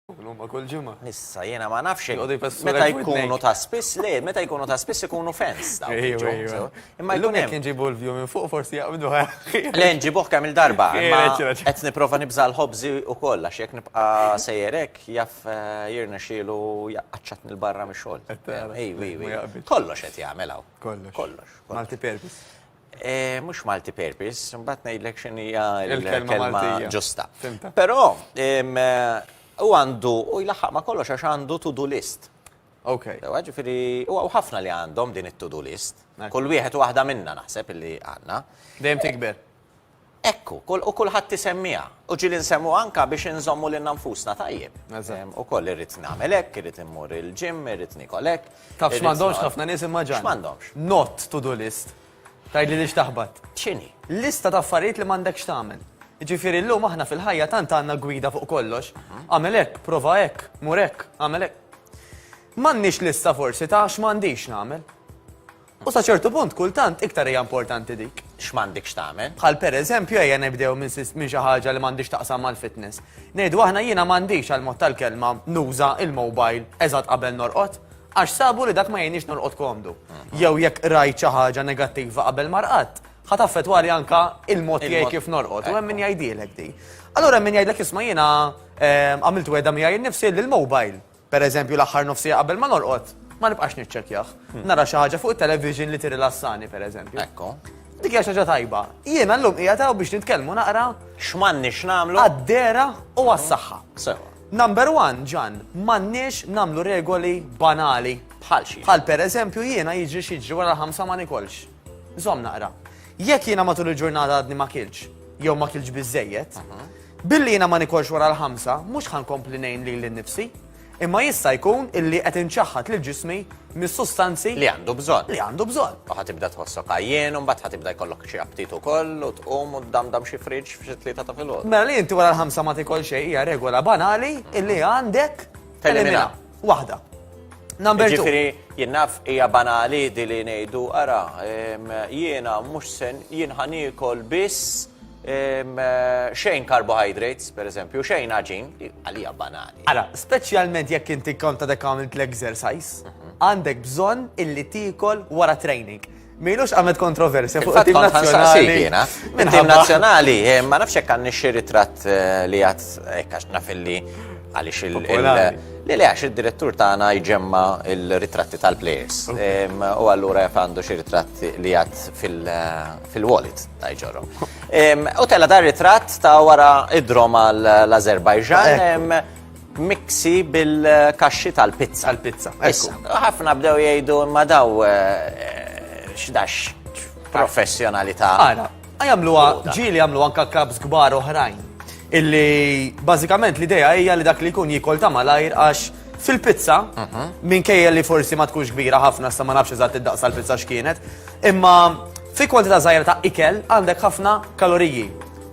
Huma kull ġimgħa. Issa jiena ma nafx meta jkunu ta' spiss le, meta jkunu ta' spiss ikunu fens. Imma jkun hemm inġibu l-view minn fuq forsi jaqbdu Le nġibuh kemm il-darba. Qed nipprova nibża' l-ħobżi ukoll għax jekk nibqa' sejjerek jaf eh, jirna xielu jaqqaċċatni l-barra mix-xogħol. Kollox qed jagħmel hawn. Kollox. Kollox. Multi purpose. Eh, mux multi-purpose, mbatt najdlek xin hija l-kelma ġusta. Pero, u għandu, u jlaħħaq ma kollox għax għandu to-do list. Ok. Ġifiri, u ħafna li għandhom din it-to-do list. Kull wieħed u waħda minna naħseb li għanna. Dejjem tikber. Hekk hu, u kulħadd isemmiha. U ġieli nsemmu anke biex inżommu lilna nfusna tajjeb. Ukoll irrid nagħmel hekk, irrid immur il-gym, irrid niekol hekk. Taf x'm'għandhomx ħafna nies imma Ġan? X'm'għandhomx? Not to do list. Tgħidli li x'taħbat? X'inhi? Lista ta' affarijiet li m'għandekx tagħmel. Jiġifieri llum aħna fil-ħajja tant għandna gwida fuq kollox. Agħmel hekk, prova hekk, mur hekk, agħmel hekk. M'għandniex lista forsi ta' x'm'għandix nagħmel. U sa ċertu punt kultant iktar hija importanti dik, x'm'għandek x'tagħmel. Bħal per eżempju ejja nibdew minn xi ħaġa li m'għandhiex taqsam mal-fitness. Ngħidu aħna jiena m'għandix għal mod tal-kelma nuża il-mobile eżatt qabel norqod, għax sabu li dak ma jgħinnix norqod komdu. Jew jekk qrajt xi ħaġa negattiva qabel ma rqadt, ħa taffetwali anka il-mod tiegħi kif norqod u hemm min jgħidilek di. Allura hemm min jgħidlek isma' jiena għamilt wegħda miegħi nnifsi li l-mobile Per eżempju, l-aħħar nofs siegħa qabel ma norqod, ma nibqax niċċekkjah. Nara xi ħaġa fuq it-television li tirrilassani, per eżempju. Ekku. Dik hija xi ħaġa tajba. Jiena llum qiegħed hawn biex nitkellmu naqra X'm'għandniex nagħmlu? għad-dera u għas-saħħa. Sewa. Number one, Ġan, m'għandniex nagħmlu regoli banali. Bħal xi? Bħal per eżempju jiena jiġri xi jiġri wara l-ħamsa ma nikolx. Żomm naqra. Jekk jiena matul il-ġurnata għadni ma kilx, jew ma kilx biżejjed, billi jiena ma nikolx wara l-ħamsa, mhux ħankompli ngħin lili nnifsi, imma jista' jkun illi qed inċaħħad lil ġismi mis-sustanzi Li għandu bżonn. li għandu bżonn. U ħatibda tħossok għajjien, u mbagħad ħatibda jkollok xi aptit ukoll, u tqum u tdamdam xi friġġ f'xi tlieta ta' filgħodu. Mela li inti wara l-ħamsa ma tikol xejn hija regola banali illi għandek Telimina. Waħda. Number two. Ġifiri, jinnaf hija banali di li ngħidu ara, jiena mhux sen jien ħanikol biss xejn carbohydrates, per eżempju, xejn ħaġin, għalija banali. Ara, speċjalment jekk inti konta dek għamilt l-exercise, mhm. għandek bżonn illi tikol wara training. Milux għamet kontroversja fuq il-tim nazjonali. Il-tim nazjonali, eh, ma nafx hekk għandni xi ritratt eh, li għad eh, għax naf li għaliex il- li li għax il-direttur tagħna jġemma il-ritratti tal-players. U allura jaf għandu xi ritratt li għad fil-wallet ta' jġorru. U tella dar ritratt ta' wara id-drom għal-Azerbajġan. miksi bil-kaxxi tal-pizza. Tal-pizza. Issa, ħafna bdew jgħidu ma daw eh, x'dax professjonalità. Ara, għajamluha ġieli għamlu anka kabs kbar oħrajn. Illi bażikament l-idea hija li dak li jkun jikol ta' malajr għax fil-pizza, mhm. minkejja li forsi ma tkunx kbira ħafna sa ma nafx eżatt id-daqsa l-pizza x'kienet, imma fi kwantità żgħira ta' ikel għandek ħafna kaloriji.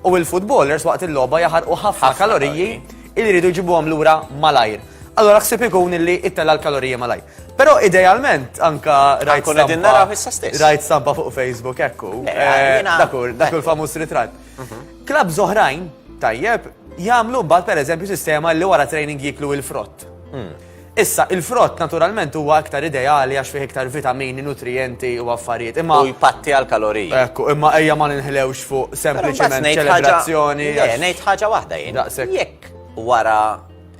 U il-futbolers waqt il-logħba jaħarqu ħafna kaloriji Illi jridu jġibuhom lura malajr. Allora ħsib ikun illi ittella l-kalorija malajr. Però idealment anka rajt Ankun qegħdin stampa- naraw issa stess. Rajt stampa fuq Facebook ekku. Le, eh, jiena- Dakur, dakur famuż ritratt. Klab zoħrajn, tajjeb, jagħmlu mbagħad pereżempju sistema li wara training jiklu il-frott. Issa, il-frott naturalment huwa iktar ideali għax fih iktar vitamini, nutrijenti u affarijiet, imma. U jpatti għall-kaloriji. Ekku, imma ejja ma ninħlewx fuq sempliċiment ċelebrazzjoni. Le, ngħid ħaġa waħda jien. Daqshekk. Jekk wara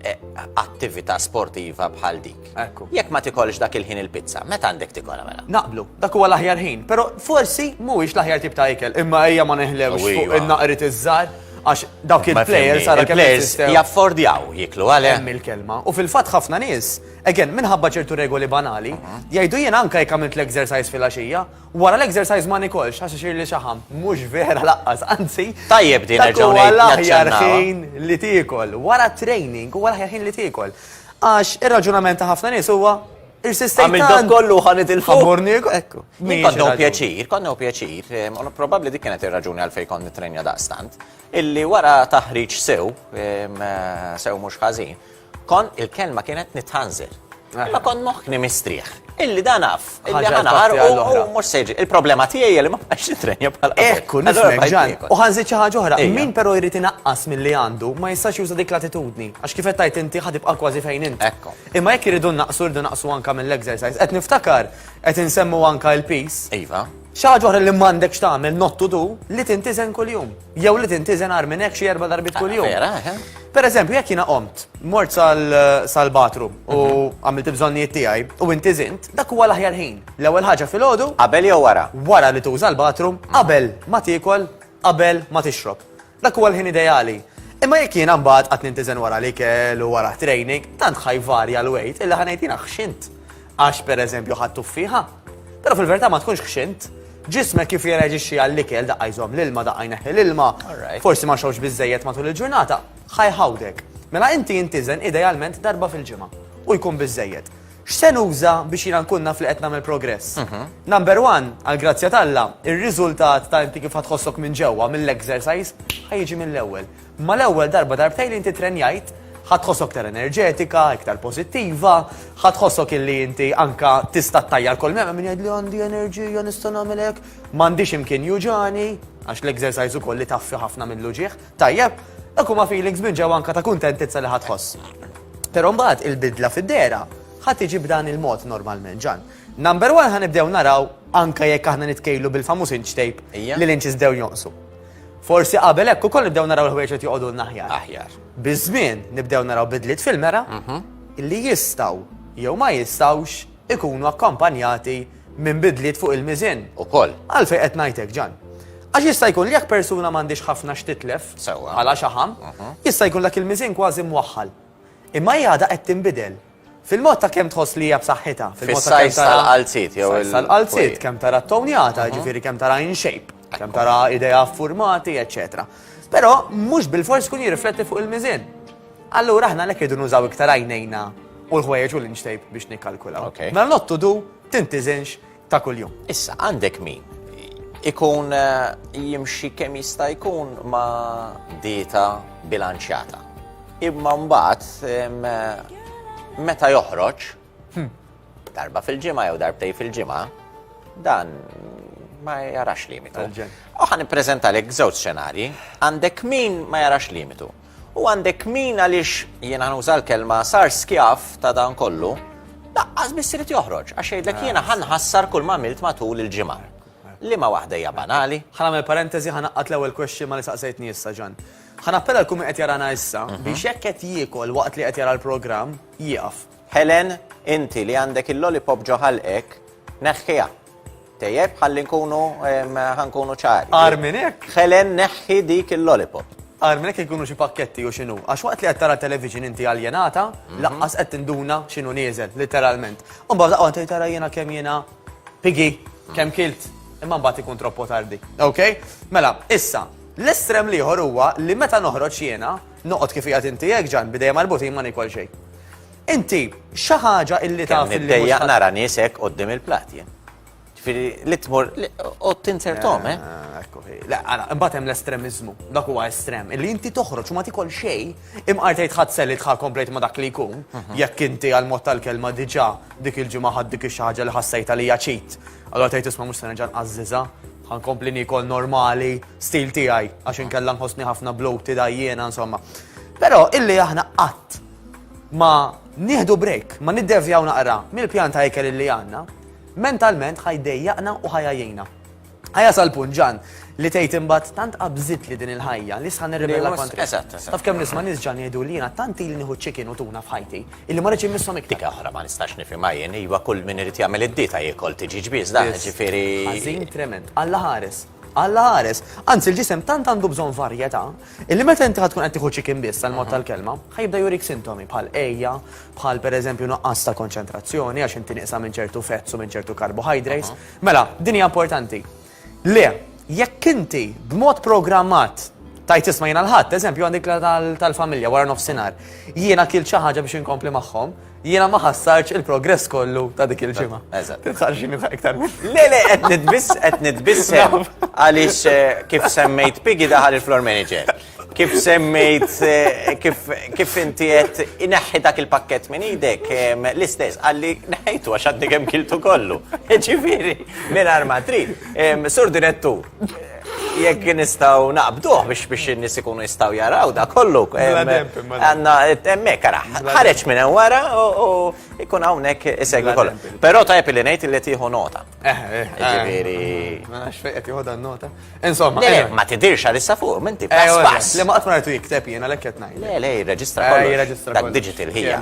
eh, attività sportiva bħal dik. Ekku. Jekk ma tikolx dak il-ħin il-pizza, meta għandek tikolha mela? Naqblu, dak huwa l-aħjar ħin, però forsi mhuwiex l-aħjar tip ta' ikel, imma ejja ma ninħlewx fuq in-naqrit iż-żgħar. Għax dawk il-players għara players jaffordjaw jiklu għale. Hemm il-kelma. U fil-fatt ħafna nies, again, minħabba ċertu regoli banali, mhm. jgħidu jien anka jekk għamilt l-exercise fil-għaxija, wara l-exercise ma nikolx għax ixir li xaħam. Mhux vera laqqas, anzi. Tajjeb din nerġgħu l-aħjar ħin li tiekol, wara training u wara ħin li tiekol. Għax ir-raġunament ta' ħafna nies huwa Għamil dak kollu ħan itilfu. Ħamurni. Ekku. Konna u pjaċir, konna u pjaċir. Ehm, Probabli dik kienet ir-raġuni għalfej kon nitrenja daqstant. Illi wara taħriġ sew, ehm, eh, sew mhux ħażin, kon il-kelma kienet nitħanżir. Eh. Ma kon moħħni mistrieħ. Illi dan af, illi ħanħar u mhux seġi. Il-problema tiegħi li ma bħax nitrenja bħala. Ekku, nismek ġan. U ħanżid xi ħaġa oħra. Min però jrid inaqqas milli għandu ma jistax juża dik l-attitudni. Għax kif qed tajt inti ħadibqa' kważi fejn inti. Ekku. Imma jekk irridu nnaqqsu rridu naqsu anke mill-exercise. Qed niftakar qed insemmu anke l-piż. Iva. Xi ħaġa oħra li m'għandekx tagħmel not to do li tintiżen kuljum. Jew li tintiżen agħar minn hekk xi erba' darbiet kuljum. Vera, eħe. Pereżempju, jekk jiena qomt, mort sal-bathroom u għamilt il-bżonnijiet tiegħi u intiżint, dak huwa l-aħjar ħin. L-ewwel ħaġa filgħodu. Qabel jew wara? Wara li tuża l-bathroom, qabel ma tiekol, qabel ma tixrob. Dak huwa l-ħin ideali. Imma jekk jiena mbagħad qatt nintiżen wara l-ikel u wara training, tant ħajvarja l-wejt illa ħanejt jiena ħxint. Għax pereżempju ħadd tuffieħa. Però fil-verità ma tkunx ħxint. Ġismek kif jirreġixxi għall-ikel daqqa jżomm l-ilma daqqa jneħħi l-ilma, forsi ma xewx biżejjed matul il-ġurnata, ħajħawdek. Mela inti jintiżen idealment darba fil-ġimgħa u jkun biżejjed. X'se nuża biex jiena nkun naf li qed nagħmel progress? Number one, għall-grazzja t'Alla, ir-riżultat ta' inti kif ħa tħossok minn ġewwa mill-exercise ħa jiġi mill-ewwel. Mal-ewwel darba darbtejn li inti ttrenjajt, ħa tħossok iktar enerġetika, iktar pożittiva, ħa tħossok illi inti anke tista' ttajjar kull mela min jgħidli għandi enerġija nista' nagħmel hekk, m'għandix imkien juġagħni, għax l-exercise ukoll itaffi ħafna mill-uġigħ. Tajjeb, dak huma feelings minn ġew anka ta' kuntentizza li ħadd ħoss. Però mbagħad il-bidla fid-dera ħadd tiġi b'dan il-mod normalment ġan. Number one ħanibdew naraw anka jekk aħna nitkejlu bil-famuż inch tape li l-inches dew jonqsu. Forsi qabel hekk ukoll nibdew naraw il-ħwejġ qed joqogħdu naħjar. Aħjar. Biż-żmien nibdew naraw bidliet fil-mera mhm. li jistgħu jew ma jistgħux ikunu akkompanjati minn bidliet fuq il-miżien ukoll. Għalfejn qed ngħid hekk, Ġann? Għax jista' jkun li jekk persuna m'għandhiex ħafna x'titlef bħala xaħam, jista' jkun dak il-miżien kważi mwaħħal. Imma hi għadha qed tinbidel. Fil-mod ta' kemm tħoss li hija b'saħħitha, fil-mod ta' kemm tara. Fis-sajż tal-qalziet jew il-. Fis-sajż tal-qalziet, kemm tara ttonjata, jiġifieri kemm tara in shape, kemm tara idejha ffurmati, eċċetera. Però mhux bilfors ikun jirrifletti fuq il-miżien. Allura aħna għalhekk irridu nużaw iktar għajnejna u l-ħwejjeġ u l-inch tape biex nikkalkulaw. Mela not to do tintiżinx ta' kuljum. Issa għandek min ikun eh, jimxi kemm jista' jkun ma' dieta bilanċjata. Imma mbagħad eh, meta joħroġ hmm. darba fil-ġimgħa jew darbtej fil-ġimgħa dan ma jarax limitu. Uħan prezenta l żewġ xenarji, għandek min ma jarax limitu. U għandek min għaliex, jiena nuża l-kelma, sar skjav ta' dan kollu, laqqas biss irid joħroġ għax jgħidlek jiena ħa nħassar kull ma għamilt matul il-ġimgħa. Liema waħda hija banali? Ħa nagħmel parentesi, ħa ngħaqqad l-ewwel question ma' li saqsejtni issa, Ġann. Ħa nappella l-kull min qed jarana issa biex jekk qed jiekol waqt li qed jara l-programm, jieqaf. Helen, inti li għandek il-lollipop ġo ħalqek, neħħiha. Tejjeb, ħalli nkunu ħa nkunu ċari. Għar minn hekk. Helen neħħi dik il-lollipop. Għar minn hekk ikunu xi pakketti u x'inhu. Għax waqt li qed tara television inti aljenata, mhm. laqqas qed tinduna x'inhu nieżel, literalment. U mbagħad laqgħu tgħid tara jiena kemm jiena pigi, mhm. kemm kilt, imma mbagħad ikun troppo tardi. Ok? Mela, issa, l-estrem liħor huwa li meta noħroġ jiena, noqgħod kif qiegħed inti hekk ġan bidejja marbutin ma nikol xejn. Inti, xi ħaġa illi taf Kemm li mhux niddejjaq ħadd- nara nies hekk qoddim il-plat jien. Ġifieri li tmur li- u tinzertom, eh? Ah, Ekku hi. Le, għana, imbagħad hemm l-estremiżmu. Dak huwa estrem. Illi inti toħroġ u ma tikol xejn, imqar tgħid ħadd se li tħa komplejt ma dak li jkun, jekk inti għal mod tal-kelma diġà dik il-ġimgħa ħadd dik ix-xi ħaġa li ħassejt għalija ċit. Allora tgħid isma' mhux se nerġa' nqażżiżha, ħankompli niekol normali, stil tiegħi, għax inkella nħossni ħafna bloated għajjiena, insomma. Però illi aħna qatt ma nieħdu break, ma niddevjaw naqra mill-pjan ta' ikel li għandna, mentalment ħajdejjaqna u ħajajjina. Ħajja sal-punt ġan li tgħid imbagħad tant qabżit li din il-ħajja li sħan nirribella kontra. Eżatt, eżatt. Taf kemm nisma' nies ġan jgħidu li jiena tant li nieħu ċikin u tuna f'ħajti illi ma rridx immisshom iktar. Dik aħra ma nistax nifhimha jien, iva kull min irid jagħmel id-dieta jiekol tiġi ġbiż dan, ġifieri. Ħażin trement, Alla ħares. Alla ħares. Anzi, l-ġisem tant għandu bżonn varjetà, illi meta inti tkun qed tieħu chicken biss tal-mod tal-kelma, ħajibda jurik sintomi bħal ejja, bħal pereżempju nuqqas ta' konċentrazzjoni għax inti nieqsa minn ċertu fetz u minn ċertu carbohydrates. Mela, din hija importanti. Le, jekk inti b'mod programmat tajt isma' jiena l-ħadd, eżempju għandik tal-familja wara nofsinhar, jiena kil xi ħaġa biex inkompli magħhom, Jiena ma ħassarx il-progress kollu ta' dik il-ġimgħa. Eżatt. Titħarġi minn iktar minn. Le, le, qed nitbiss, qed nitbiss għaliex eh, kif semmejt Piggy daħal il-floor manager. Kif semmejt, eh, kif, kif inti qed ineħħi dak il-pakket minn idek, em, l-istess, għalli neħħejtu għax għaddi kemm kiltu kollu. Ġifieri, minn arma trid. Em, Sur direttur, jekk nistaw naqbduħ biex biex n-nis ikunu jistaw jaraw da kollu. Għanna, emme, kara, ħareċ minn wara u ikun għawnek isegwi kollu. Pero ta' li nejt li tiħu nota. Eh, eh, eh. Ġiviri. Ma nafx fejqet tiħu dan nota. Insomma. Ma tidirx għalissa fuq, minti, pass pass. Le ma għatma rajtu jikteb jena l ekket najt. Le, le, jirreġistra kollu. Dak digital hija.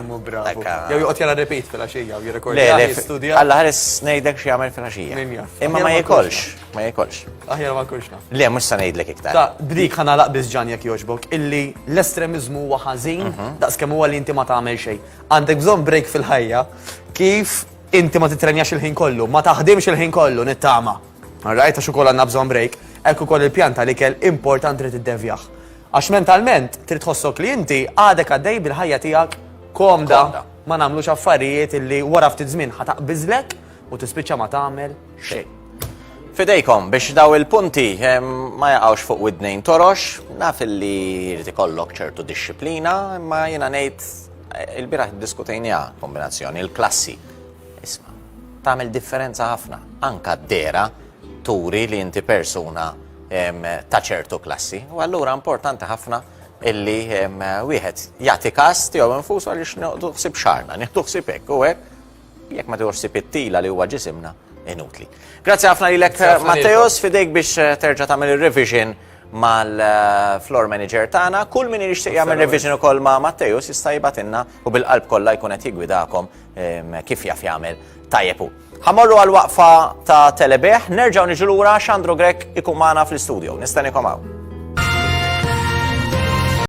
Jew juqot jara repeat fil-axija u jirrekordi. Le, le, għalla ħares nejdek xie għamil fil-axija. Imma ma jikolx. Ma jekolx. Aħjar ma kulx naf. Le, mux sa ngħidlek iktar. Ta' bdik ħana laqbis ġan jekk jogħġbok illi l-estremizmu huwa ħażin mhm. daqs kemm huwa li inti ma tagħmel xejn. Għandek bżonn break fil-ħajja kif inti ma titrenjax il-ħin kollu, ma taħdimx il-ħin kollu nittama. Rajta xu kolla nabżon break, ekku koll il-pjanta li kell important trid id-devjaħ. Għax mentalment trid tħossok li inti għadek għaddej bil-ħajja tiegħek komda ma nagħmlux affarijiet li wara ftit żmien ħataq biżlek u tispiċċa ma tagħmel xejn. Fidejkom biex daw il-punti ma jaqgħux fuq widnejn torox, naf li jrid ikollok ċertu dixxiplina, imma jiena ngħid eh, il-biraħ diskutejnija kombinazzjoni il-klassi. Isma' tagħmel differenza ħafna, anka d-dera turi li inti persuna ta' ċertu klassi. U allura importanti ħafna illi wieħed jagħti kas tiegħu infusu għaliex noqdu ħsib xarna, nieħdu ħsib hekk u hekk Jekk ma tieħux sib it-tila li huwa ġisimna, inutli. Grazzi ħafna lilek Matteos fidejk biex eh, terġa' tagħmel ir-revision mal-floor manager tagħna. Kull min jixtieq jagħmel revision ukoll ma' Matteju jista' jibatinna u bil-qalb kollha jkun qed jigwidakom ehm, kif jaf jagħmel tajjeb hu. Ħamorru għal waqfa ta' telebeħ, nerġgħu niġu lura Xandru Grek ikun magħna fl-istudio. Nistanikom hawn.